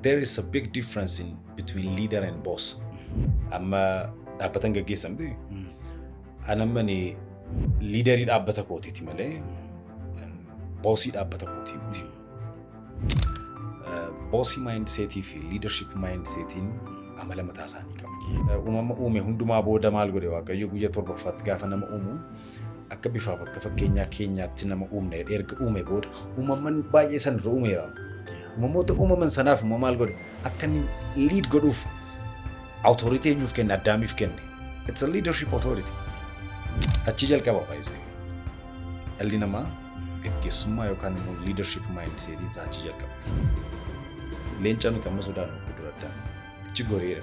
There is a big difference in between leader and boss. Amma dhaabbatan gaggeessamti. An amma ni liidarii dhaabbata kootiiti malee boosii dhaabbata kootii miti. Boosii maayindiseetii fi liidarship maayindiseetiin amala mataa isaanii qabu. Uumama uume hundumaa booda maal godhe waaqayyo guyya torbaffaatti gaafa nama uumu akka bifaaf akka fakkeenyaa keenyaatti nama uumna jedhee erga uume booda uumamman baay'ee san irra uumeera. Uumamoota uumaman sanaaf immoo maal godhe akka inni liid godhuuf awutooritii eenyuuf kenne addaamiif kenne. It's a leadership authority. Achii jalqaba baay'isuu. Dhalli namaa gaggeessummaa yookaan immoo leadership mindsetiin isaa achii jalqaba. Leenca nuti amma sodaannu guddaa addaa. Achi goreera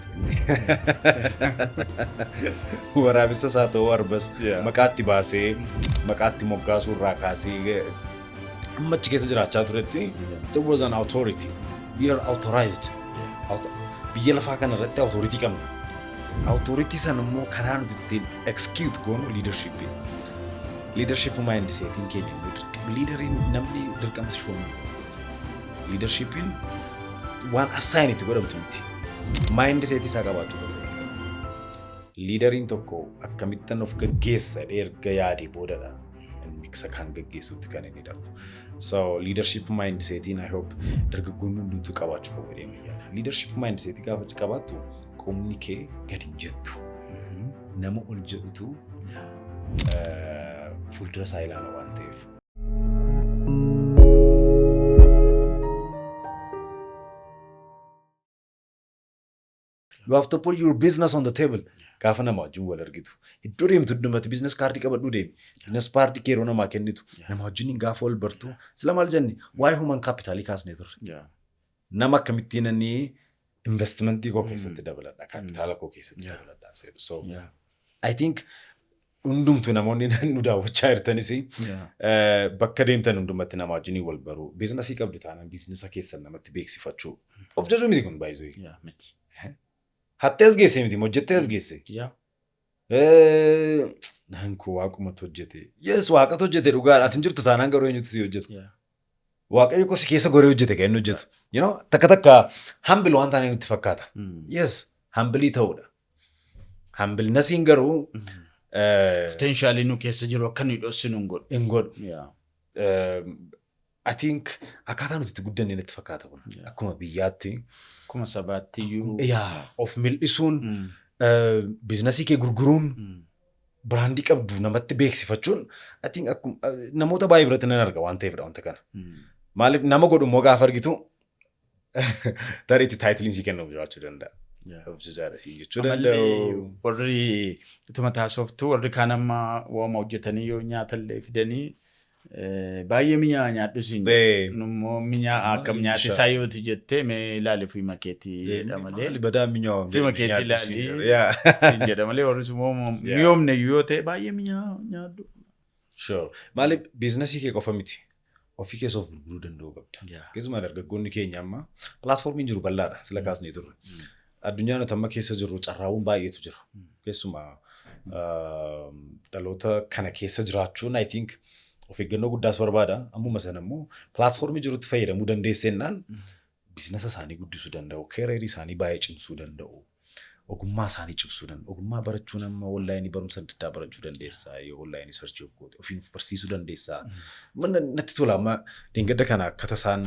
Waraabessa isaa ta'uu arbas Yeah. maqaatti baasee maqaatti moggaasuu irraa kaasee eh, amma achi keessa jiraachaa turetti there was an authority we are authorized Auto- biyya lafaa kana irratti authority qabna authority sana immoo karaa nuti ittiin execute goonu leadership leadership mind seetiin keenya immoo dirqama leaderiin namni dirqama si shoomuu Liidarshiippiin waan assaayin itti godhamtu miti. Maayindi seetii isaa qabaachuu qaba. Liidariin tokko akkamittan of gaggeessa jedhee erga yaadee boodadha inni isa kan gaggeessutti kan inni darbu. So liidarshiip maayindi seetiin I hope dargaggoonni hundumtuu qabaachuu qabu jedhee ni yaada. Liidarshiip maayindi seetii gaafa qabaattu qomni kee gadi hin jettu. Nama ol jedhutu eh, fuuldura isaa ilaala waan ta'eef. you have to put your business on the table gaafa nama wajjin wal argitu iddoo deemtu hundumatti business kaardii qabadhuu deemi business kaardii kee yeroo namaa kennitu Yeah. nama wajjin gaafa wal bartu sila maal jenne waa'ee human kaapitaalii kaasnee turre Yeah. nama akkamittiin inni investimentii koo keessatti dabaladha, kaapitaala koo keessatti Yeah. dabaladha seedu. So Yeah. I think hundumtu namoonni nu daawwachaa jirtanis Yeah. eh, bakka deemtan hundumatti nama wajjinii wal baruu biizinasii qabdu taanaan biizinasa keessan namatti beeksifachuu of jajuu miti kun baay'isuu Yeah. Miti. hattee as geesse miti hojjettee as geesse Yeah. Eh, naan koo waaqumatu hojjete yes waaqatu hojjete dhugaa ati hin jirtu taanaan garuu eenyutu si hojjeta Yeah. Waaqayyo koo si keessa goree hojjete kan inni hojjetu. You know, takka takka hambil waan taanee nutti fakkaata. Yes, hambilii ta'uudha. Hambilnasiin garuu eh, Poteenshaalii nu keessa jiru akka nuyi dhossinu hin godhu. hin godhu. Yeah. Eh, I think akkaataa nuti itti guddanne natti fakkaata kun. Yeah. Akkuma biyyaatti Akkuma sabaatti iyyuu. yaa of mil'isuun Mm, eh, biiznasii kee gurguruun mm, biraandii qabdu namatti beeksifachuun I think akkum- eh, namoota baay'ee biratti nan arga waan ta'eefidha wanta kana. Maaliif nama godhu immoo gaafa argitu tarii itti taayitiliin sii kennamu jiraachuu danda'a. Hojjechaadha sii jechuu Ammallee danda'u. warri utuma taasoftu warri kaan amma waama hojjetanii yoo nyaatallee fidanii Baay'ee minyaa nyaadhu siin immoo minyaa akkam nyaate isaa yooti jettee mee ilaali fiima keetii jedha malee. Badaa minyaa fiima keetii ilaali siin jedha malee warri sun miyoomne yoo ta'e baay'ee minyaa nyaadhu. Sure. Maaliif biiznasii kee qofa miti. Ofii keessa of gurguruu danda'uu qabda. Keessumaa dargaggoonni keenya amma pilaatfoormiin jiru bal'aadha sila kaasnee turre. Addunyaa nuti amma keessa jirru carraawwan baay'eetu jira. Keessumaa dhaloota kana keessa jiraachuun I think of eeggannoo guddaas barbaada. Ammuma sana immoo pilaatfoormii jirutti fayyadamuu dandeessennaan biizinasa isaanii guddisuu danda'u, keereerii isaanii baay'ee cimsuu danda'u, ogummaa isaanii cimsuu danda'u. Ogummaa barachuun amma onlaayinii barumsa adda addaa barachuu dandeessaa yoo onlaayinii sarchii of goote ofiin of barsiisuu dandeessaa. Mana natti tola amma dheengadda kana akkata isaan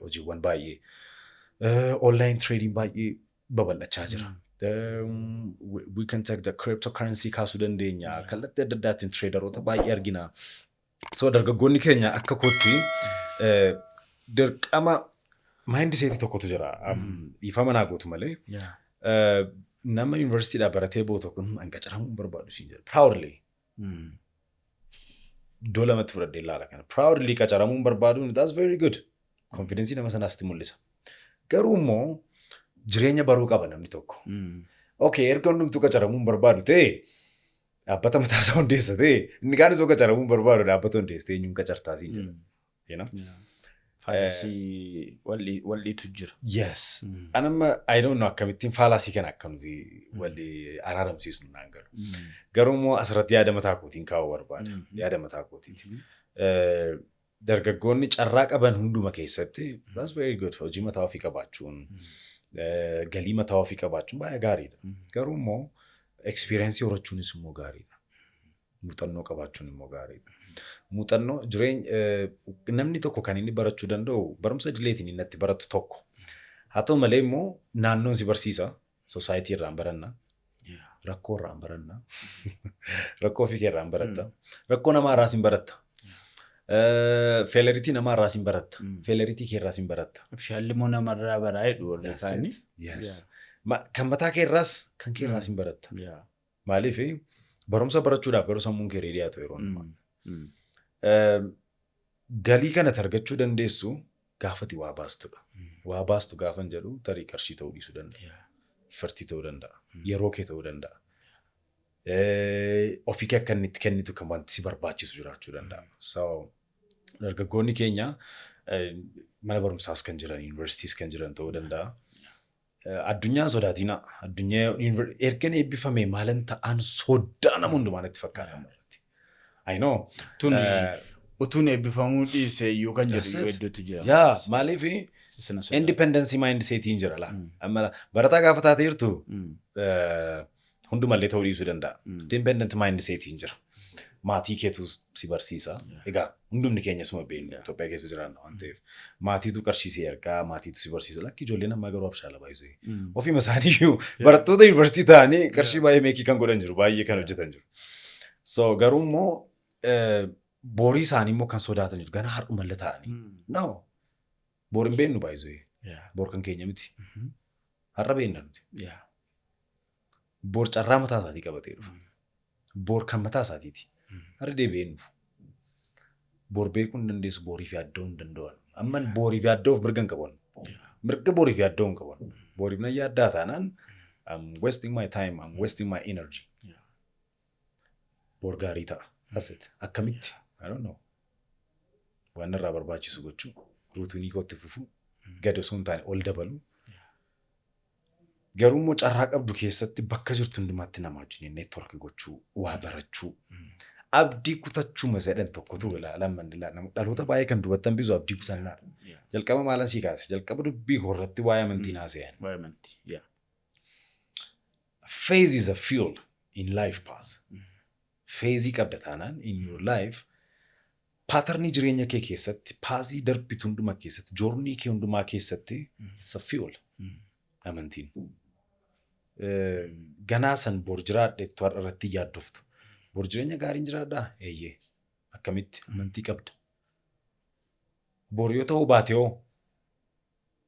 hojiiwwan baay'ee online trading baay'ee babal'achaa jira. Um, we- we can take the cryptocurrency kaasuu dandeenya kallattii adda addaatiin traderoota baay'ee argina. So dargaggoonni keenya akka kootti eh, dirqama maayindi seetii tokkotu jira. Um, Dhiifama naa gootu malee Yeah. eh, nama yuunivarsiitiidhaa baratee booda kun hanga ciramuun barbaadu siin jedha. Proudly. Iddoo lamatti fudhadhee ilaala kana. Proudly qacaramuun barbaaduun that's very good. Confidence nama sanaas itti mul'isa. Garuu immoo jireenya baruu qaba namni tokko. Okay, erga hundumtuu qacaramuun barbaadu ta'e dhaabbata mataa isaa hundeessa ta'e inni kaan osoo qacaramuun barbaadu dhaabbata hundeessa ta'e eenyuun qacartaa siin jedha. you know? Yeah. Faayidasii walli walliitu jira. Yes. Mm. An amma I don't know akkamittiin faalaasii kana akkamti walli araaramsiisnu naan galu. Mm. Garuu immoo asirratti yaada mataa kootiin kaa'uu barbaada. Mm. Yaada mataa kootiiti. Mhm. Eh, Dargaggoonni carraa qaban hunduma keessatti that's very good hojii mataa ofii qabaachuun eh, galii mataa ofii qabaachuun baay'ee gaariidha. Mm. Garuu immoo experience horachuunis immoo gaariidha. Muuxannoo qabaachuun immoo gaariidha. Muuxannoo jireenya namni tokko kan inni barachuu danda'u barumsa idileetiin inni itti baratu tokko. Haa ta'u malee immoo naannoon si barsiisa. Soosaayitii irraan baranna. Rakkoo irraan baranna. Rakkoo ofii kee irraan baratta. Rakkoo namaa irraas hin baratta. Feeleritii namaa irraas hin baratta. Feeleritii kee irraas hin baratta. Abshaalli immoo namarraa baraa jedhu warri kaanii. Yes. Ma- Kan mataa kee irraas kan kee irraas hin baratta. Yaa. Maaliif barumsa barachuudhaaf garuu sammuun kee reedii haa ta'u yeroo hundumaa. Mm. Ehm, Galii kana argachuu dandeessu gaafati waa baastudha. Waa baastu gaafan jedhu tarii qarshii ta'uu dhiisuu danda'a. Yeah. Firtii ta'uu danda'a. Yeroo kee ta'uu danda'a. Eh, Ofii kee akka inni itti kennitu kan wanti si barbaachisu jiraachuu danda'a. So, dargaggoonni keenya eh, mana barumsaas kan jiran, yuunivarsiitiis kan jiran ta'uu danda'a. Addunyaa hin sodaatiinaa. Addunyaa yuunivar- ergan eebbifame maalan ta'an soddaa nama hundumaa natti fakkaata amma irratti. I know. Tun Eh, utuun eebbifamuu dhiise iyyuu kan jedhu That's iyyuu it. hedduutu jira. Yaa maaliif Sisina sodaa. independence mind setiin jira laa. Mm. Amma barataa gaafa taate jirtu Mm. eh, Hundumallee ta'uu dhiisuu danda'a. Mm. Dependent mindset hin jira. Maatii keetu si barsiisa. Egaa hundumni keenya suma beekna. Itoophiyaa keessa jiraanna waan ta'eef. Maatiitu qarshii si ergaa, maatiitu si barsiisa. Lakki ijoolleen ammaa garuu abshaala baay'isee. Mm. Ofiima isaanii iyyuu barattoota yuunivarsiitii ta'anii qarshii baay'ee meekii kan godhan jiru. Baay'ee kan hojjetan jiru. So garuu immoo eh, borii isaanii immoo kan sodaatan jiru. Ganaa har'umallee ta'anii. Mm. No. Bor hin beennu baay'isee. Yeah. Bor kan keenya miti. Mhm. Har'a beenna nuti. Yeah. Bor carraa mataa isaatii qabatee dhufa. Bor kan mataa isaatiiti. Mm. Har'a deebi'ee hin dhufu. Bor beekuu hin dandeessu, boriif yaaddoo hin danda'an. Amma boriif yaaddoo of mirga hin qaban. Mirga boriif yaaddoo hin qaban. Boriif nan yaaddaa taanaan I'm wasting my time, I'm wasting my energy. Yeah. bor gaarii ta'a. That's it. Akkamitti? I don't know. Waan irraa barbaachisu gochuu, ruutinii kootti fufuu, gad osoo hin taane ol dabaluu. Garuu immoo carraa qabdu keessatti bakka jirtu hundumaatti nama wajjin network gochuu, waa barachuu. Abdii kutachuu masadhan tokkotu lamman dhaloota baay'ee kan dubattan bisu abdii kutannaa. Yeah. Jalqaba maalan sii kaase? Jalqaba dubbii koo irratti waa'ee amantii naa se'an. Waa'ee amantii. Yeah. Faith is a fuel in life path. Feezii qabda taanaan in your life paatarnii jireenya kee keessatti paazii darbitu hundumaa keessatti joornii kee hundumaa keessatti it's a fuel amantiin. Eh, Ganaa san bor jiraadhettu har'a irratti hin yaaddoftu. Bor jireenya gaariin jiraadhaa? Eeyyee. Akkamitti amantii qabda? Bor yoo ta'uu baate hoo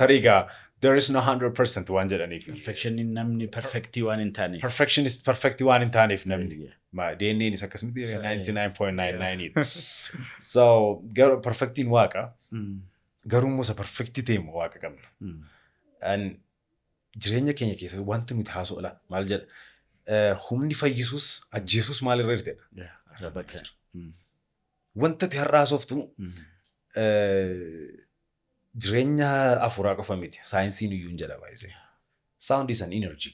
Tarii gaa there is no 100% waan jedhaniif. Perfectionin namni perfectii waan hin taaneef. Perfectionist perfect waan hin taaneef namni. Yeah. Ma DNAn is akkasumatti So, 99.99 dha. So garuu perfectiin waaqa Mm, garuu immoo isa perfectii ta'e immoo waaqa qabna. mm, And jireenya keenya keessatti wanti nuti haasofna maal jedha Eh, humni fayyisuus ajjeesuus maalirra jirtedha. yeah, arraba kee. Mm, Wanta ati har'a haasoftu mm, eh, Jireenya afuuraa qofa miti. Saayinsiin iyyuu hin jedha baay'isee. Sound is an energy.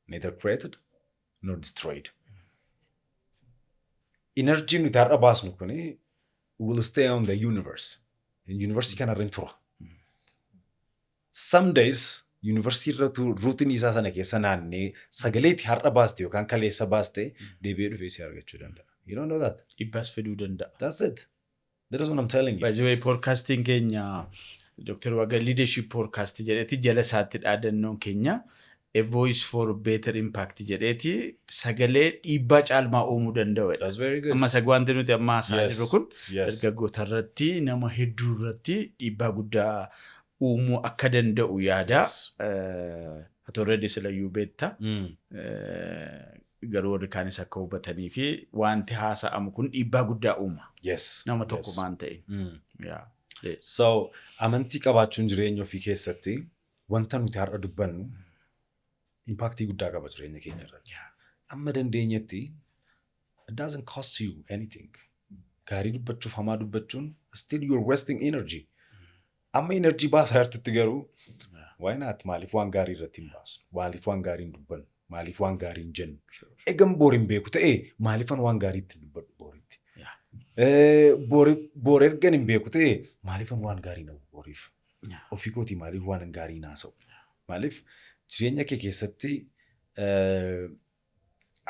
Neither created nor destroyed. Energy nuti har'a baasnu kun will stay on the universe. Universii kanarra hin tura. Some days universii irra ruutiin isaa sana keessa naannee sagaleetti har'a baaste yookaan kaleessa baaste deebi'ee dhufee si argachuu danda'a. You don't know that. Dhibbaas fiduu danda'a. That's it. That is what I'm telling you. By the way, podcastiin keenya Dr. Waga Leadership Podcast jedheeti jala isaatti dhaadannoon keenya A Voice for Better Impact jedheeti sagalee dhiibbaa caalmaa uumuu danda'u. That's very good. Amma sag wanti nuti amma haasa'aa Yes. jirru kun Yes. dargaggoota irratti nama hedduu irratti dhiibbaa guddaa uumuu akka danda'u yaada. Yes. Eh, Ati already silayyuu beekta. Mm. Eh, Garuu warri kaanis akka hubatanii fi wanti haasa'amu kun dhiibbaa guddaa uuma. Yes. Nama tokko yes. maan ta'e. Mm. Yeah. Eh, So amantii qabaachuun jireenya ofii keessatti wanta nuti har'a dubbannu impaaktii guddaa qaba jireenya keenya irratti. Amma dandeenyetti it doesn't cost you anything. Gaarii dubbachuuf hamaa dubbachuun still you're wasting energy. Amma enerjii baasaa jirtutti garuu why not maaliif waan gaarii irratti hin baasnu maaliif waan gaarii hin dubbannu maaliif waan gaarii hin jennu egan boor hin beeku ta'e maaliifan waan gaarii itti hin dubbadhu booritti Yeah. Eh, boori- boor ergan hin beeku ta'e maaliifan waan gaarii na booriif Yeah. ofii kootii maaliif waan gaarii naasa'u maaliif jireenya kee keessatti eh,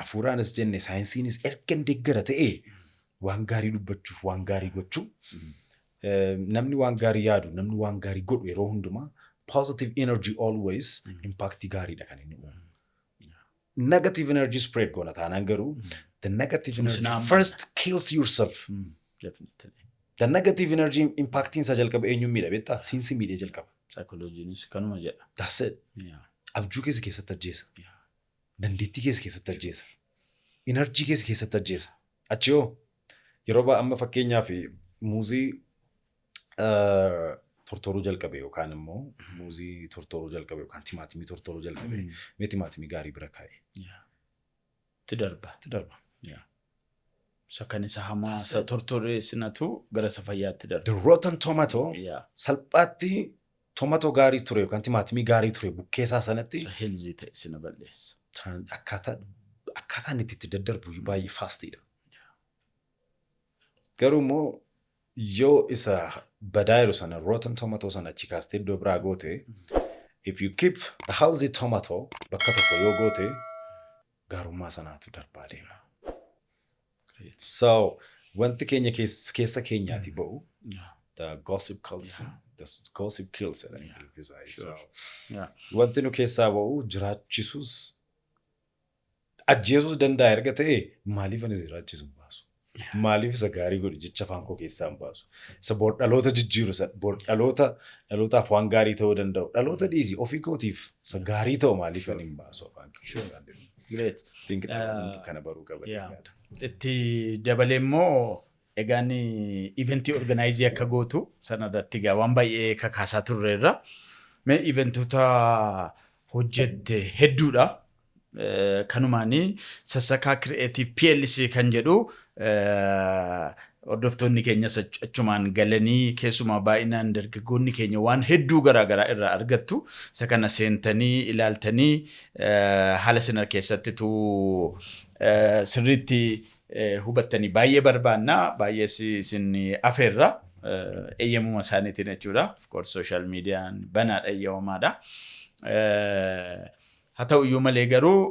Hafuuraanis jenne saayinsiinis ergan deeggara ta'ee waan gaarii dubbachuuf waan gaarii gochuu eh, namni waan gaarii yaadu namni waan gaarii godhu yeroo hundumaa positive energy always impact gaariidha kan inni uumu. Negative energy spread goona taanaan garuu the negative Sunis energy naamudha. first kills yourself. Definitely. The negative energy impactiin isaa jalqaba eenyuun miidha beektaa? Siinsi miidhee jalqaba. Saayikolojiinis kanuma jedha. That's it. Yeah. Abjuu keessa keessatti ajjeesa. Yeah. Dandeettii kee si keessatti ajjeesa. Inarjii kee si keessatti ajjeesa. Achii hoo? Yeroo baay'ee amma fakkeenyaaf muuzii tortoruu jalqabe yookaan immoo muuzii tortoruu jalqabe yookaan timaatimii tortoruu jalqabe mee timaatimii gaarii bira kaa'e. Itti darba. Itti darba. Isa kan isa hamaa isa tortoree sinatu gara isa fayyaatti darba. The rotten tomato salphaatti Tomato gaarii ture yookaan timaatimii gaarii ture bukkeesaa sanatti. Isa healthy ta'e sina balleessa. Kan akkaataa akkaataan itti itti daddarbu iyyuu baay'ee faastiidha. Garuu immoo yoo isa badaa jiru sana rotten tomato sana achi kaastee iddoo biraa goote if you keep the healthy tomato bakka tokko yoo goote gaarummaa sanaatu darbaa deema. Great. So, wanti keenya keessa, keessa keenyaati ba'u. Yeah. The gossip kills. Yeah. The s- gossip kills jedhan Yeah. Ingiliffisa. Sure. So, Yeah. wanti nu keessaa ba'u jiraachisus ajjeesus danda'a erga ta'e maaliif ani jiraachisu baasu? Maaliif isa gaarii godhi jecha afaan koo keessaa hin baasu. Isa bor dhaloota jijjiiru isa bor dhaloota dhalootaaf waan gaarii ta'uu danda'u. Dhaloota dhiisi ofii kootiif isa gaarii ta'u maaliif ani hin baasu afaan koo Sure. keessaa deemu. Great. Think Uh, dhaloonni kana baruu qaba. yeah. yaada. Itti dabalee immoo egaan iventii organaayizii akka gootu sanarratti egaa waan baay'ee kakaasaa turreerra. Mee iventoota hojjette hedduudha. Kanumaan Sassakaa Creative plc kan jedhu hordoftoonni keenyas achumaan galanii keessumaa baay'inaan dargaggoonni keenya waan hedduu garaa garaa irraa argattu. Isa kana seentanii ilaaltanii haala isin harkeessattitu sirriitti hubattanii baay'ee barbaanna. Baay'ees isin afeerra. Eeyyamuma isaaniitiin jechuudha. Of course social median banaadha eeyyamamaadha. Haa ta'u iyyuu malee garuu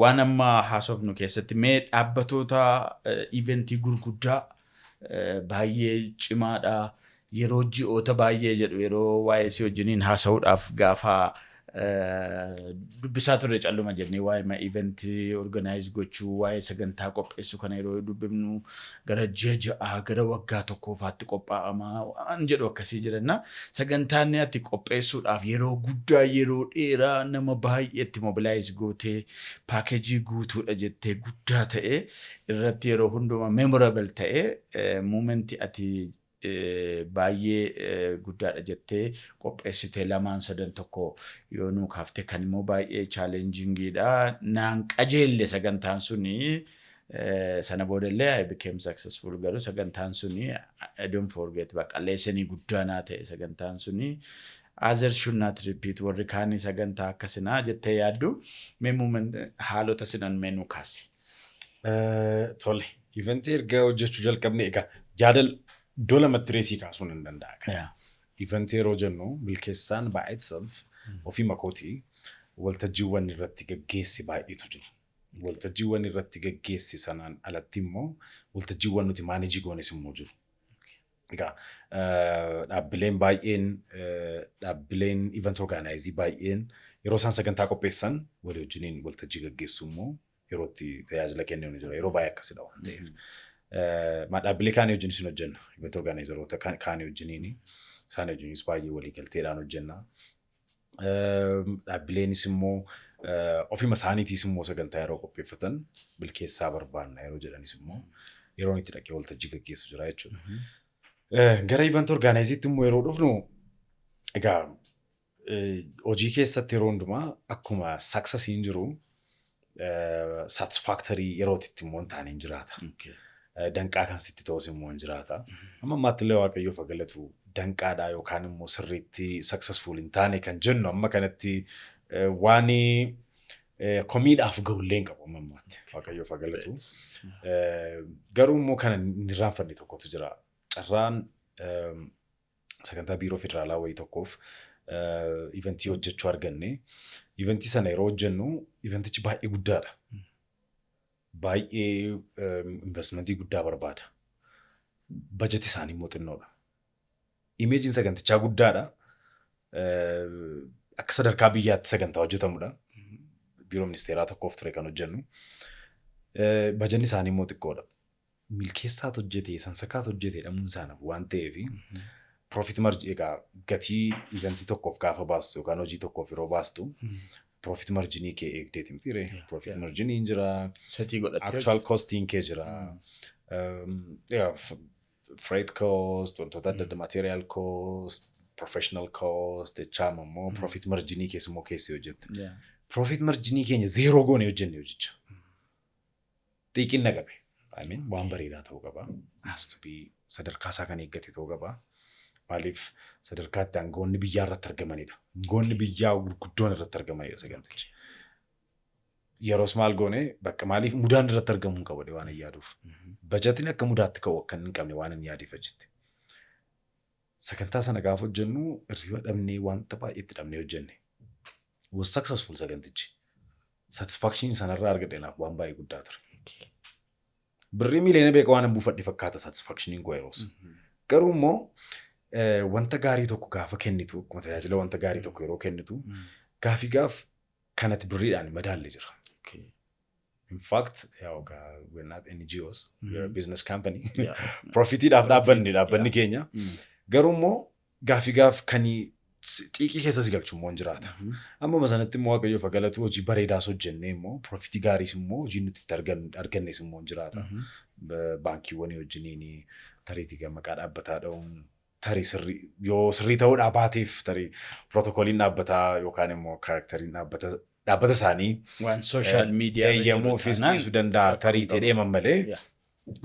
waan amma haasofnu keessatti mee dhaabbatoota iventii gurguddaa baay'ee cimaadha yeroo ji'oota baay'ee jedhu yeroo waa'ee si wajjiniin haasa'uudhaaf gaafa dubbisaa turre calluma jennee waa'ee iventii organaayiz gochuu waa'ee sagantaa qopheessuu kana yeroo dubbifnu gara ji'a ja'aa, gara waggaa tokkoo faatti qophaa'ama waan jedhu akkasii jira. Innaa sagantaanni ati qopheessuudhaaf yeroo guddaa, yeroo dheeraa, nama baay'ee itti mobilize gootee, package guutuudha jettee guddaa ta'e irratti yeroo hundumaa memorable ta'e moment ati baay'ee guddaadha jettee qopheessite lamaan sadan tokko yoo nuu kaaftee kan immoo baay'ee challengingidha naan qajeelle sagantaan suni sana boodallee I became successful garuu sagantaan suni I don't forget baqa leesanii guddaa naa ta'e sagantaan suni others should not repeat warri kaanii sagantaa akkasinaa jettee yaaddu mee muumen haalota sinan mee nuu kaasi. Tole Event erga hojjechuu jalqabne egaa jaadal iddoo lamatti reesii kaasuu nan danda'a. kan. Yeah. Event yeroo jennu milkeessaan by itself ofii makooti waltajjiiwwan irratti gaggeessi baay'eetu jiru. Waltajjiiwwan irratti gaggeessi sanaan alatti immoo waltajjiiwwan nuti maanejii goones immoo jiru. Egaa eh, dhaabbileen baay'een eh, dhaabbileen event organizii baay'een yeroo isaan sagantaa qopheessan walii wajjiniin waltajjii gaggeessu immoo yeroo itti tajaajila kenninu jira. Yeroo baay'ee akkasidha waan ta'eef. Ma dhaabbilee kaanii wajjin isin hojjenna. Event organizeroota kaanii wajjiniini. Isaan wajjinis baay'ee waliigalteedhaan hojjenna. Dhaabbileenis immoo ofima isaaniitiis immoo sagantaa yeroo qopheeffatan bilkeessaa barbaanna yeroo jedhanis immoo yeroon itti dhaqee waltajjii gaggeessu jira jechuudha. Gara event organizeetti immoo yeroo dhufnu egaa Hojii keessatti yeroo hundumaa akkuma saksasiin jiru saatisfaaktarii yerootitti immoo hin taane hin jiraata. Danqaa kan sitti ta'us immoo hin jiraata. Amma ammaatti illee waaqayyoof haa galatu danqaadhaa yookaan immoo sirriitti saksasfuul hin taane kan jennu amma kanatti waan komiidhaaf ga'u illee hin qabu amma ammaatti waaqayyoof haa galatu. Garuu immoo kan hin irraanfanne tokkotu jira. Carraan sagantaa biiroo federaalaa wayii tokkoof iventii hojjechuu arganne. Iventii sana yeroo hojjennu iventichi baay'ee guddaadha. Baay'ee investimentii guddaa barbaada. Bajeti isaanii immoo xinnoodha. Imeejiin sagantichaa guddaadha. Akka sadarkaa biyyaatti sagantaa hojjetamudha. Biiroo ministeeraa tokkoof ture kan hojjennu. Bajanni isaanii immoo xiqqoodha. milkeessaat hojjete, sansakaat hojjete jedhamuun isaa nafu waan ta'eef profit margin egaa gatii event tokkoof gaafa baastu yookaan hojii tokkoof yeroo baastu profit marginii kee eegdeeti miti ree Yeah, profit yeah. marginii hin jira Setii godhattee actual costing kee jira Um, yeah, f- freight cost wantoota adda adda material cost professional cost jechaama immoo profit marginii keessummoo keessi hojjette Yeah. profit marginii keenya zeeroo goone hojjenne hojicha xiiqinna qabe. I mean, waan bareedaa ta'uu qaba. Has to be sadarkaa isaa kan eeggate ta'uu qaba. Maaliif sadarkaa itti aangoonni biyyaa irratti argamanidha. Aangoonni biyyaa gurguddoon irratti argamanidha sagantichi. Yeroos maal goone bakka maaliif mudaan irratti argamuu hin qabne waan hin yaaduuf. Bajatiin akka mudaatti ka'u akka hin qabne waan hin yaadeef achitti. Sagantaa sana gaafa hojjennu hirriba dhabnee wanta baay'ee itti dhabnee hojjenne. Was successful sagantichi. Satisfaction sanarraa argadhe naaf waan baay'ee guddaa ture. Birrii miiliyoona beekaa waan buufadhe fakkaata satisfactioniin koo yeroos. Garuu immoo eh, wanta gaarii tokko gaafa kennitu akkuma tajaajila wanta gaarii tokko yeroo kennitu gaafii gaaf kanatti birriidhaan madaalle jira. in fact yaw ka we're not NGOs we are a business company Yeah. profitiidhaaf dhaabbanne dhaabbanni keenya Mm. garuu immoo gaafii gaaf kan xiiqii keessa si galchu immoo hin jiraata Mhm. amma sanatti immoo waaqayyoof haa galatu hojii bareedaas hojjennee immoo profitii gaariis immoo hojii nuti itti argan- argannes immoo hin jiraata Mhm. Ba- baankiiwwanii wajjiniin tariitii maqaa dhaabbataa dha'uun tarii sirrii yoo sirrii ta'uu dhaabaatiif tarii pirootokooliin dhaabbataa yookaan immoo kaarakteriin dhaabbata dhaabbata isaanii Waan sooshaal miidiyaa irra jiru eeyyamuufis taanaan dhiisuu danda'a rakkoo tarii hin qabu. ta'ee mammalee Yeah.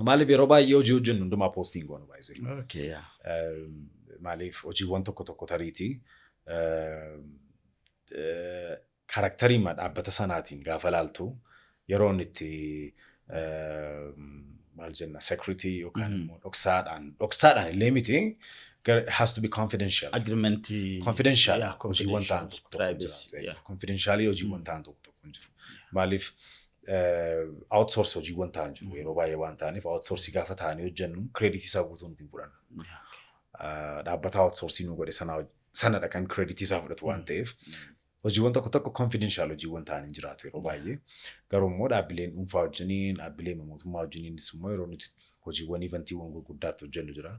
maaliif yeroo baay'ee hojii hojjennu hundumaa poostiin goonu baay'isee Okay, yeah. Ehm, maaliif hojiiwwan tokko tokko tariitii ehm, eh, Karakteriima dhaabbata sanaatiin gaafa ilaaltu yeroo inni itti maal jenna security yookaan immoo dhoksaadhaan dhoksaadhaan illee miti has to be confidential. Agreement. Confidential hojiiwwan ta'an tokko tokko jira. Confidentialii hojiiwwan ta'an tokko tokko hin jiru. Maaliif outsource hojiiwwan ta'an jiru yeroo baay'ee waan ta'aniif outsource gaafa ta'anii hojjennu credit isaa guutuu nuti hin fudhannu. Dhaabbata outsource nu godhe sana sanadha kan credit isaa fudhatu waan ta'eef Hojiiwwan tokko tokko confidential hojiiwwan ta'an hin jiraatu yeroo baay'ee. Garuu immoo dhaabbileen dhuunfaa wajjiniin, dhaabbilee mootummaa wajjiniinis immoo yeroo nuti hojiiwwan ivantiiwwan gurguddaatti hojjennu jira.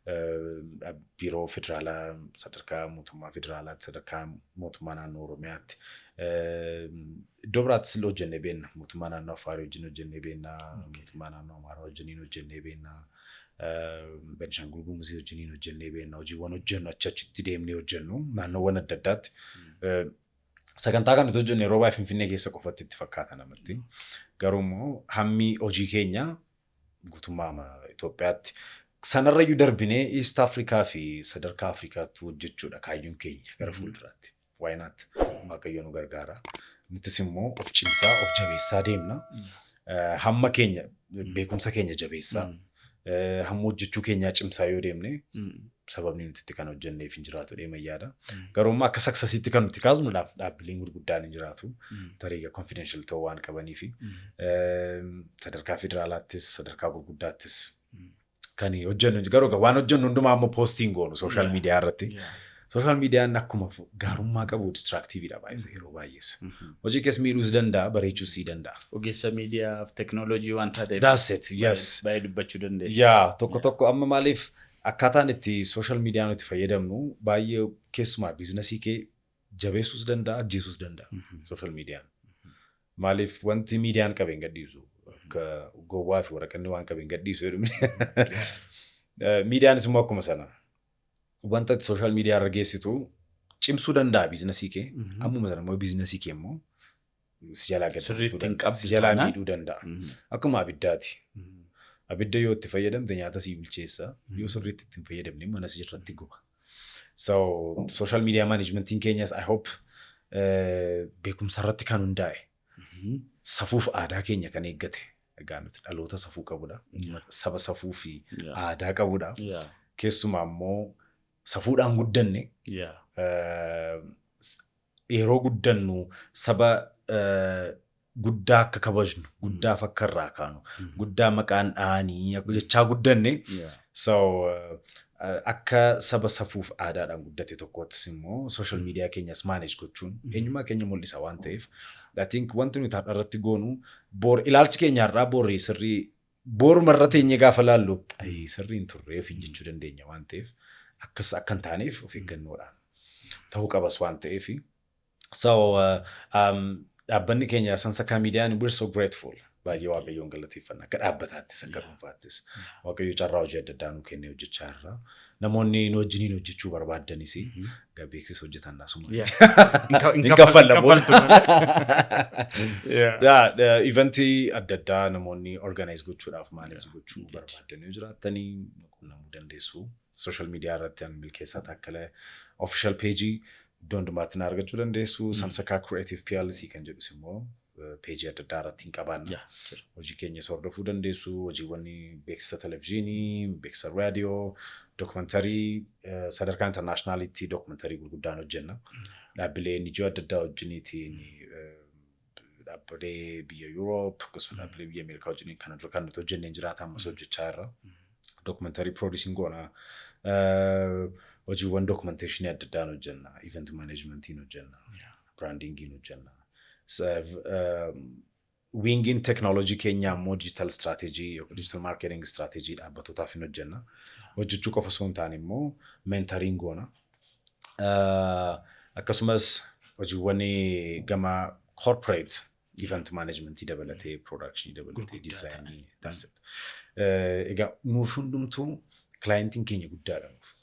Eh, Biiroo federaalaa sadarkaa mootummaa federaalaatti, sadarkaa mootummaa naannoo Oromiyaatti. eh, Iddoo biraattis illee hojjennee beenna. Mootummaa naannoo Afaarii wajjin hojjennee beenna. Mootummaa naannoo Amaaraa wajjiniin hojjennee beenna. Benishangul Gumuzii wajjiniin hojjennee beekna. Hojiiwwan hojjennu achi achitti deemnee hojjennu naannoowwan adda addaatti. Sagantaa kan nuti hojjennu yeroo baay'ee Finfinnee keessa qofatti itti fakkaata namatti. Garuu immoo hammi hojii keenya guutummaa Itoophiyaatti sanarrayyuu darbinee East Afrikaa fi sadarkaa Afrikaatti hojjechuudha kaayyoon keenya gara fuulduraatti. Why not? Waaqayyo nu gargaara. Nutis immoo of cimsaa, of jabeessaa deemna. Eh, Hamma keenya, beekumsa keenya jabeessaa, eh, hamma hojjechuu keenyaa cimsaa yoo deemne sababni nuti itti kan hojjenneef hin jiraatu deema yaada. Garuu immoo akka saksasiitti kan nuti kaasnu dhaab- dhaabbileen gurguddaan hin jiraatu. Tariiga confidential ta'uu waan qabaniifi. Eh, Sadarkaa federaalaattis, sadarkaa gurguddaattis kan hojjennu hin jiru. garuu egaa waan hojjennu hundumaa ammoo poostiin goonu sooshaal Yeah. miidiyaa irratti. Yeah. Sooshaal miidiyaan akkuma fu- gaarummaa qabu distraaktiiviidha baay'ee yeroo baay'ees. Mhm. Hojii kees miidhuus danda'a bareechuus sii danda'a. Ogeessa miidiyaaf teknooloojii waan taateef. That's it, yes. baay'ee- Baay'ee dubbachuu dandeessi. Yaa tokko Yeah. tokko amma maaliif akkaataan itti sooshaal miidiyaa nuti fayyadamnu baay'ee keessumaa biizinasii kee jabeessuus danda'a ajjeesuus danda'a Mhm. sooshaal miidiyaan. Maaliif wanti miidiyaan qabe hin gadhiisu. Akka gowwaa fi waraqanni waan qabe hin gadhiisu jedhu. Eh, Miidiyaanis immoo akkuma sana. Wanta ati sooshaal miidiyaa irra geessitu cimsuu danda'a biizinasii kee. Mhm. Ammuma sana immoo biizinasii kee immoo si jalaa gad Sirriitti buusuu hin danda'a. qabdu Si jalaa taanaan. miidhuu danda'a. Mhm. Akkuma abiddaati. Mhm. Abidda yoo itti fayyadamte nyaata sii bilcheessa. Mhm. Yoo sirriitti itti hin fayyadamne mana sii irratti guba. So social media managementiin keenyas I hope eh, beekumsa irratti kan hundaa'e Mhm. safuuf aadaa keenya kan eeggate egaa nuti dhaloota safuu qabudha saba safuu fi Yeah. aadaa qabudha Yeah. keessumaa immoo safuudhaan guddanne Yeah. eh, s- Yeroo guddannu saba guddaa akka kabajnu, guddaaf akka irraa kaanu, guddaa maqaan dhahanii akka jechaa guddanne. Yeah. So uh, akka saba safuuf aadaadhaan guddate tokkoottis immoo social media keenyas manage gochuun eenyummaa keenya mul'isa waan ta'eef I think wanti nuti har'a irratti goonu boor ilaalchi keenya har'aa boorri sirrii Boor marra teenyee gaafa laallu ayii sirrii hin turre ofiin jechuu dandeenya waan ta'eef akkas akka hin taaneef of eeggannoodhaan ta'uu qabas waan ta'eef. So uh, um, dhaabbanni keenya Sansakaa Miidiyaan we're so grateful. Baay'ee Waaqayyoon galateeffanna akka dhaabbataattis akka dhuunfaattis. Waaqayyo carraa hojii adda addaa nuu kennee hojjechaa irra. Namoonni nu wajjiniin hojjechuu barbaaddanis egaa beeksisa hojjetan asuma. Hin kaffallan booda. Ivantii adda addaa namoonni organize gochuudhaaf manage gochuu barbaaddan yoo jiraattanii qunnamuu dandeessu. Social media irratti an milkeessaa taakkalee official page iddoo hundumaatti na argachuu dandeessu. Sansakaa Creative PLC kan jedhus immoo peejii adda addaa irratti hin qabaanna. Yaa, jira. Hojii keenya isa hordofuu dandeessu, hojiiwwan beeksisa televizyiinii, beeksisa raadiyoo, dookumantarii eh, sadarkaa intarnaashinaaliitti dookumantarii gurguddaan hojjenna. Dhaabbilee NGO adda addaa wajjiniitiin eh, dhaabbilee biyya Yuuroop akkasumas dhaabbilee biyya Ameerikaa wajjiniin kana dura kan nuti hojjenneen jiraata ammas hojjechaa irra. Dookumantarii piroodiisiin goona. Eh, Hojiiwwan dookumanteeshinii adda addaan hojjenna. Event maaneejmentiin hojjenna. Biraandiingiin hojjenna. Wiingiin teknooloojii keenyaa immoo diijitaal istiraateejii yookiin diijitaal maarkeeting istiraateejii dhaabbatootaaf hin hojjenna. Hojjechuu qofa osoo hin taane immoo meentariin goona. Akkasumas hojiiwwan gama corporate event management dabalatee production dabalatee design that's it. Egaa nuuf hundumtuu clientiin keenya guddaadha nuuf.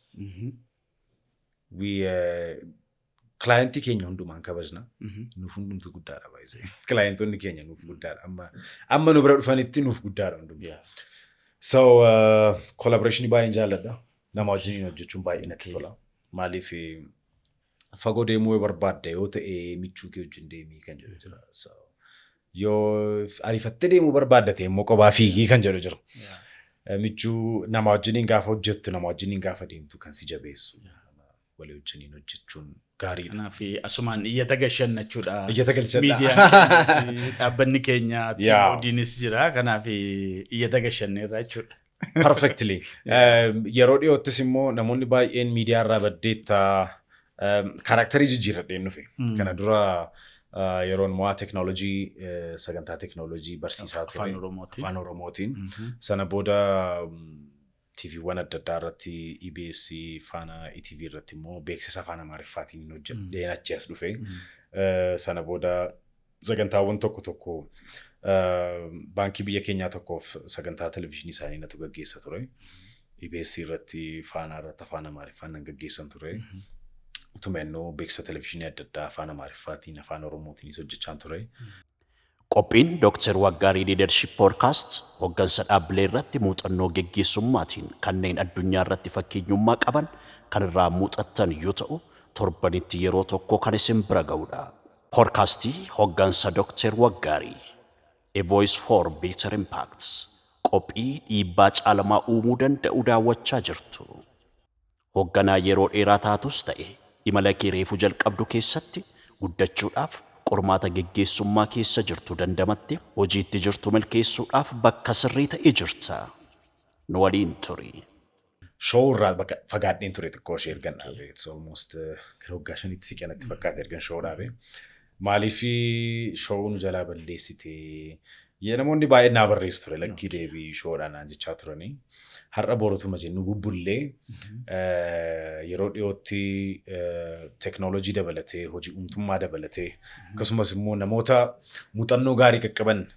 We, eh, Kilaayentii keenya hundumaan kabajna. Mhm. Nuuf hundumtu guddaadha baay'isee. Kilaayentonni keenya nuuf guddaadha. Amma, amma nu bira dhufanitti nuuf guddaadha hundumtu. Yeah. So, uh, collaboration baay'een jaalladha. Nama wajjin hojjechuun baay'ee natti tola. Maaliif eh, fagoo deemuu yoo barbaadde yoo ta'e michuu kee wajjin deemii kan jedhu jira. So, Yoo ariifattee deemuu barbaadda ta'e immoo kophaa fiigii kan jedhu jira. Eh, Michuu nama wajjiniin gaafa hojjettu nama wajjiniin gaafa deemtu kan si jabeessu. Walii wajjiniin hojjechuun gaariidha. Kanaaf asumaan iyyata gashannachuudha. Iyyata galchadha. Miidiyaan keenyas, dhaabbanni keenya Yaa. TODnis jira. Kanaaf iyyata gashanneerra jechuudha. Perfectly. Um, Yeroo dhiyoottis immoo namoonni baay'een miidiyaa irraa baddeetta um, kaaraaktarii jijjiirradheen dhufe. Mm. Kana dura uh, yeroon mo'aa teknoolojii eh, sagantaa teknoolojii barsiisaa ture. Afaan Oromootiin. Afaan Oromootiin. Mhm. Sana booda um, TVwwan adda addaa irratti EBS faana ETV irratti immoo beeksisa afaan Amaariffaatiin hojjedheen achi as dhufe. Mm. Eh, Sana booda Sagantaawwan tokko tokko baankii biyya keenyaa tokkoof sagantaa televizyiinii isaanii natu gaggeessa ture. EBS irratti faanaa irratti afaan Amaariffaan nan gaggeessan ture. Utuma innoo beeksisa televizyiinii adda addaa afaan Amaariffaatiin afaan Oromootiinis hojjechaan ture. Qophiin Dr. Waggaarii Leadership Podcast hoggansa dhaabbilee irratti muuxannoo geggeessummaatiin kanneen addunyaa irratti fakkeenyummaa qaban kan irraa muuxattan yoo ta'u, torbanitti yeroo tokko kan isin bira ga'udha. Poodkaastii Hoggansa Dokteer Waggaarii, A Voice for Better Impact, qophii dhiibbaa caalamaa uumuu danda'u daawwachaa jirtu. Hogganaa yeroo dheeraa taatus ta'e imala kee reefu jalqabdu keessatti guddachuudhaaf qormaata geggeessummaa keessa jirtu dandamattee hojii itti jirtu milkeessuudhaaf bakka sirrii ta'e jirta. Nu waliin turi. Show irraa bakka fagaadheen ture xiqqoo ishee ergan dhaabe. It's almost eh, gara waggaa shanitti siqe natti fakkaate ergan show dhaabe. Maaliif show nu jalaa balleessite? Yee namoonni baay'een naa barreessu ture lakkii deebii showdhaan naan jechaa turanii. Har'a borotuma jennu bubbullee eh, yeroo dhiyootti teknoolojii dabalatee hojii uumtummaa dabalatee akkasumas immoo namoota muuxannoo gaarii qaqqaban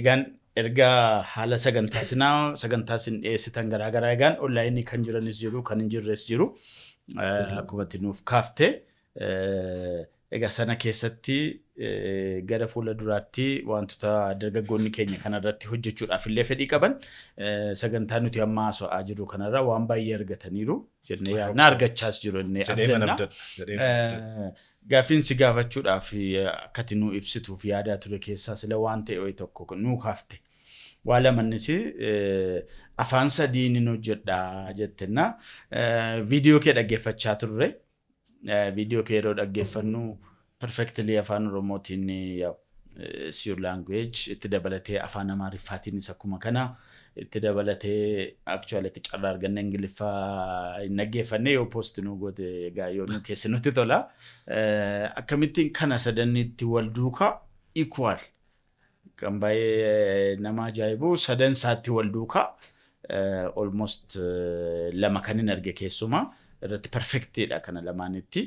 Egaan erga haala sagantaa sinaa sagantaa sin dhiyeessitan garaa garaa egaan onlaayinii kan jiranis jiru kan hin jirres jiru akkuma itti nuuf kaafte egaa sana keessatti gara fuula duraatti wantoota dargaggoonni keenya kanarratti hojjechuudhaaf illee fedhii qaban sagantaa nuti amma haasa'aa jirru kanarraa waan baay'ee argataniiru jennee yaadna argachaas jiru jennee abdanna. Gaaffiin si gaafachuudhaaf akka ati nuu ibsituuf yaadaa ture keessaa sila waan ta'e wayi tokko nuu kaafte. Waa lama innis afaan sadii nin hojjedha jette na viidiyoo kee dhaggeeffachaa turre. Viidiyoo kee yeroo dhaggeeffannu perfectly afaan oromootiin yaa'u is your language itti dabalatee afaan amaariffaatiinis akkuma kana itti dabalatee actually akka carraa arganne ingiliffaa hin dhaggeeffanne yoo post nu goote egaa yoo nu keessa nutti tola Eh, akkamittiin kana sadannitti wal duuka equal kan baay'ee nama ajaa'ibu sadan isaatti wal duuka eh, almost eh, lama kan hin arge keessumaa irratti perfectidha kana lamaanitti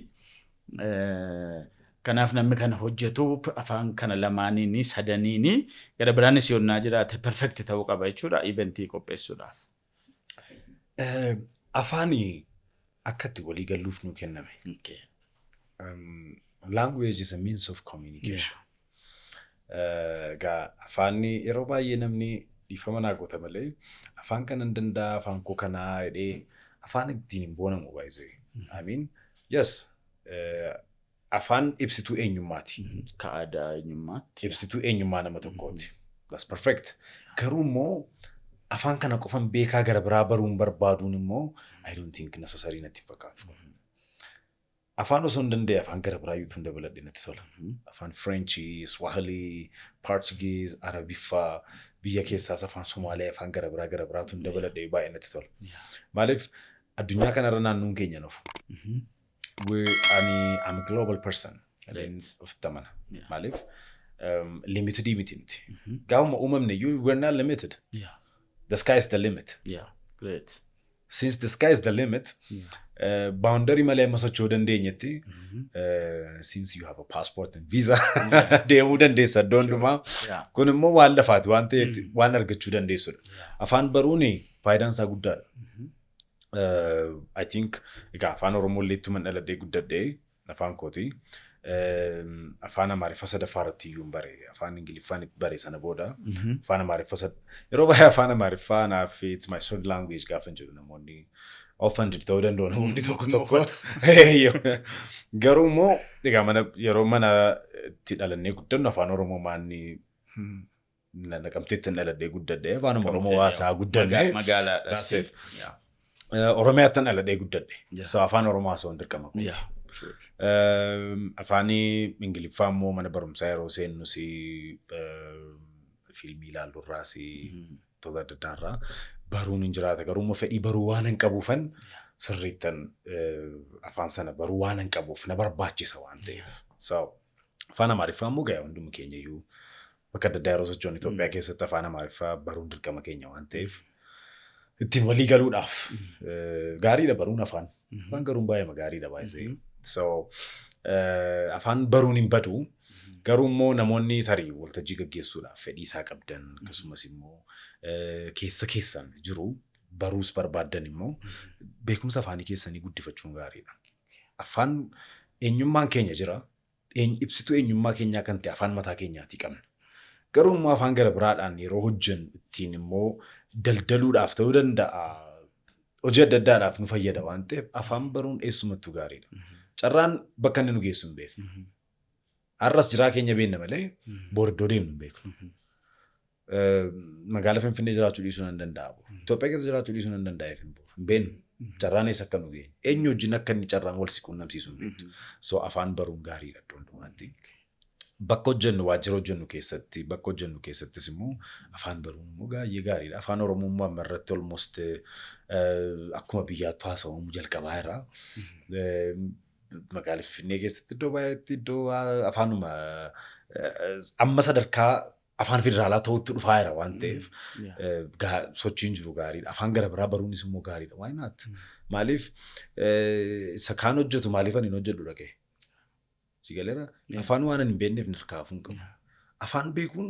Kanaaf namni kana hojjetu afaan kana lamaaniini, sadaniini, gara biraanis yonnaa jiraate perfect ta'uu qaba jechuudha event qopheessuudhaaf. Afaani akka itti walii galluuf nuu kenname. Okay. Um, language is a means of communication. Egaa afaanni yeroo baay'ee namni dhiifama naa goota malee afaan kanan danda'a afaan koo kanaa jedhee afaan ittiin hin boonamu baay'isee. I mean yes afaan ibsituu eenyummaati. Ka aadaa eenyummaatti. Ibsituu eenyummaa nama tokkooti. That's perfect. Garuu immoo afaan kana qofan beekaa gara biraa baruun barbaaduun immoo I don't think necessary natti hin fakkaatu. Afaan osoo hin danda'e afaan gara biraa yuutuun dabaladhe natti tola. Afaan Fireenchii, Swahilii, Paarchigiiz, Arabiffaa, biyya keessaas afaan Somaalee, afaan gara biraa gara biraatuun dabaladhe baay'ee natti tola. Maaliif addunyaa kanarra naannoon keenya nuuf. Ani am global person. Ofitti amana. Maaliif limitidii miti nuti. Gaafuma uumamne you were not limited. The sky is the limit. Great. Since the sky is the limit, baawundarii malee amma socho'uu dandeenyetti, since you have a passport and visa, deemuu dandeessa iddoo hundumaa. Yeah. Kun immoo waan lafaati, waan ta'eef waan argachuu dandeessudha. Afaan baruun faayidaan isaa guddaadha. Uh, I think egaa afaan Oromoo illee ittuman dhaladhee guddadhee Afaan kooti. Afaan Amaariffa sadaffaa irratti iyyuu hin bare. Afaan Ingiliffaan bare sana booda. Afaan Amaariffa sad... Yeroo baay'ee Afaan Amaariffaa naaf it's my third language gaafa jedhu namoonni offended ta'uu danda'u namoonni tokko tokko. Garuu immoo egaa mana yeroo mana itti dhalannee guddannu Afaan Oromoo maanni Na- Naqamteetti hin dhaladhee guddadhe afaanuma Oromoo waasaa guddadhe. That's Magaalaadhas. it. Yeah. Eh, Oromiyaatti hin dhaladhee guddadhe. Yeah. So afaan Oromoo haasawuun dirqama kooti. Yeah. True. Ehm, afaanii ingiliffaa immoo mana barumsaa yeroo seennu si ehm, fiilmii ilaalluurraa si Mhm. wantoota adda addaa irraa baruun hin jiraata garuu immoo fedhii baruu waan hin qabuufan sirriittan eh, afaan sana baruu waan hin qabuuf na barbaachisa waan ta'eef so Afaan Amaariffaa immoo gaya hundumni keenya iyyuu bakka adda addaa yeroo socho'an Itoophiyaa keessatti afaan Amaariffaa baruun dirqama keenya waan ta'eef ittiin walii galuudhaaf eh, gaariidha baruun afaan. Afaan garuun baay'eema gaariidha baay'isee. So eh, afaan baruun hin badu garuu immoo namoonni tarii waltajjii gaggeessuudhaaf fedhii isaa qabdan akkasumas immoo eh, keessa keessan jiru baruus barbaaddan immoo beekumsa afaanii keessanii guddifachuun gaariidha. Affaan eenyummaan keenya jira. Eeny ibsituu eenyummaa keenyaa kan ta'e afaan mataa keenyaatii qabna. Garuu immoo afaan gara biraadhaan yeroo hojjennu ittiin immoo daldaluudhaaf ta'uu danda'a. Hojii adda addaadhaaf nu fayyada waan ta'eef afaan baruun eessumattuu gaariidha. Carraan bakka inni nu geessu hin beeknu. Har'as jiraa keenya beenna malee boor iddoo deemnu hin beeknu. Magaala Finfinnee jiraachuu dhiisuu nan danda'a. Itoophiyaa keessa jiraachuu dhiisuu nan danda'a hin beeknu. Carraan eessa akka nu geenye. Eenyu wajjin akka inni carraan wal si quunnamsiisu hin beektu. So afaan baruun gaariidha iddoo hundumaatti. Bakka hojjennu waajjira hojjennu keessatti bakka hojjennu keessattis immoo afaan baruun immoo baay'ee gaariidha. Afaan Oromoo immoo amma irratti almost akkuma biyyaatti haasa'amu jalqabaa irraa. Magaala Finfinnee keessatti iddoo baay'eetti iddoo afaanuma amma sadarkaa afaan federaalaa ta'utti dhufaa jira waan ta'eef Yeah. eh, gaa- sochiin jiru gaariidha. Afaan gara biraa baruunis immoo gaariidha. Why not? Mm. Maaliif eh, isa kaan hojjetu maaliif ani hin hojjedhu dhaqee? Si galeera? Yeah. Afaan waan ani hin beekneef nirkaa hafuun qabu. Yeah. Afaan beekuun